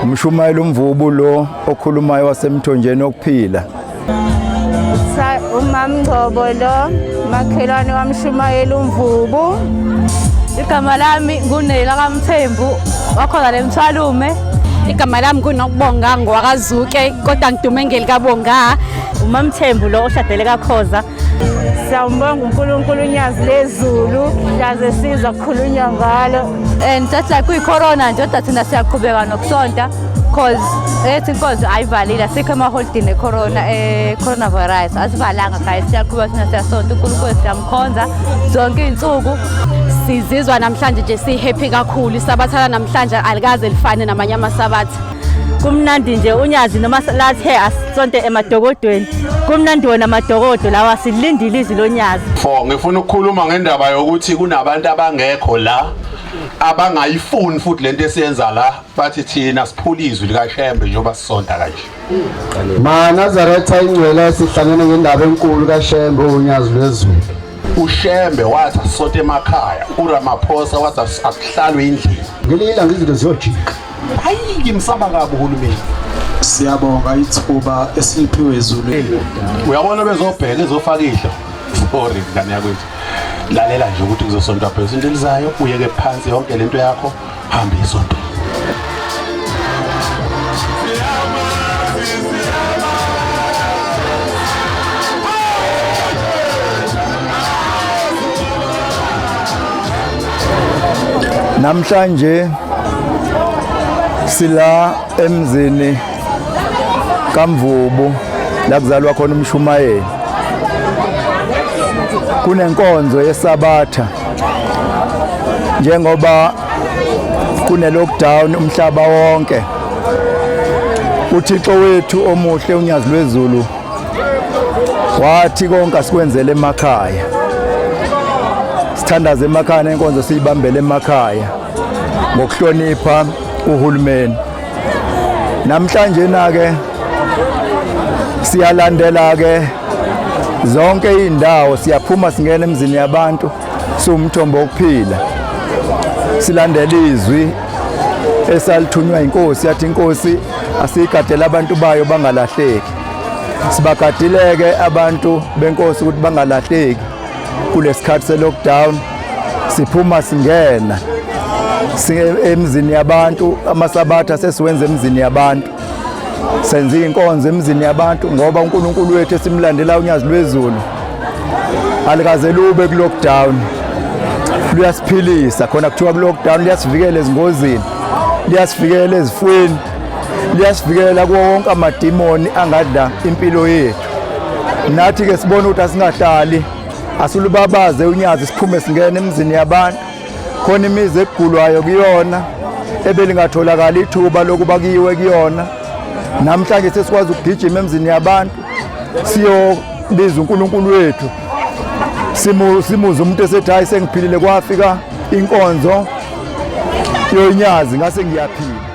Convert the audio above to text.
umshumayeli umvubu lo okhulumayo wasemthonjeni okuphila umamngcobo lo makhelwane wamshumayeli umvubu igama lami ngunela kamthembu wakhona le mthwalume igama lami kunokubonga ngowakazuke kodwa ngidume ngelikabonga umamthembu lo oshadele kakhoza siyambonga unkulunkulu unyazi lezulu yaze siza kukhulunywa ngalo and just like kuyi-corona nje kodwa thina siyaqhubeka nokusonta cause ethi inkonzo ayivalile asikho emaholidini ecorona ecoronavirus eh, asivalanga guys siyaqhubeka thina siyasonta unkulunkulu siyamkhonza zonke iy'nsuku sizizwa namhlanje nje sihappy kakhulu isabathana namhlanje alikaze lifane namanye amasabatha kumnandi nje unyazi noma lathe asonte emadokodweni kumnandi wona amadokodo lawa silindile izwi lonyazi fo ngifuna ukukhuluma ngendaba yokuthi kunabantu abangekho la abangayifuni futhi lento esiyenza la bathi thina siphula izwi likashembe njengoba sisonta kanje ma nazaretha ingcwele sihlangene ngendaba enkulu kashembe unyazi lwezulu ushembe wathi asisonte emakhaya uramaphosa wathi akuhlalwe endlini ngelinye ilanga izinto ziyojika Hayi ngimsaba kabi uhulumeni. Siyabonga ithuba esiliphiwe izulu. Uyabona bezobheka ezofaka idlo. Sorry ngane yakwethu. Lalela nje ukuthi kuzosontwa phezulu into elizayo uyeke phansi yonke lento yakho hamba isonto. Namhlanje sila emzini kaMvubu la kuzalwa khona umshumayeli. Kunenkonzo yesabatha njengoba kune lockdown umhlaba wonke. uthixo wethu omuhle unyazi lwezulu wathi konke asikwenzele emakhaya sithandaze emakhaya nenkonzo siyibambele emakhaya ngokuhlonipha uhulumeni namhlanje nake siyalandela ke zonke izindawo siyaphuma singena emzini yabantu siwumthombo wokuphila silandela izwi esalithunywa inkosi yathi inkosi asiyigadela abantu bayo bangalahleki Sibagadileke abantu benkosi ukuthi bangalahleki kulesikhathi selockdown siphuma singena emzini yabantu amasabatha sesiwenza emzini yabantu senza inkonzo emzini yabantu ngoba uNkulunkulu wethu esimlandela unyazi lwezulu alikaze lube kulockdown luyasiphilisa khona kuthiwa kulockdown liyasivikela ezingozini liyasivikela ezifweni liyasivikela kuwo wonke amadimoni angadla impilo yethu nathi-ke sibone ukuthi asingahlali asilubabaze unyazi siphume singene emizini yabantu khona imizi ekugulwayo kuyona ebelingatholakali ithuba lokuba kuyiwe kuyona namhlanje sesikwazi ukugijima emzini yabantu siyobiza uNkulunkulu wethu simu simuze umuntu esethi hayi sengiphilile kwafika inkonzo yonyazi ngase ngiyaphila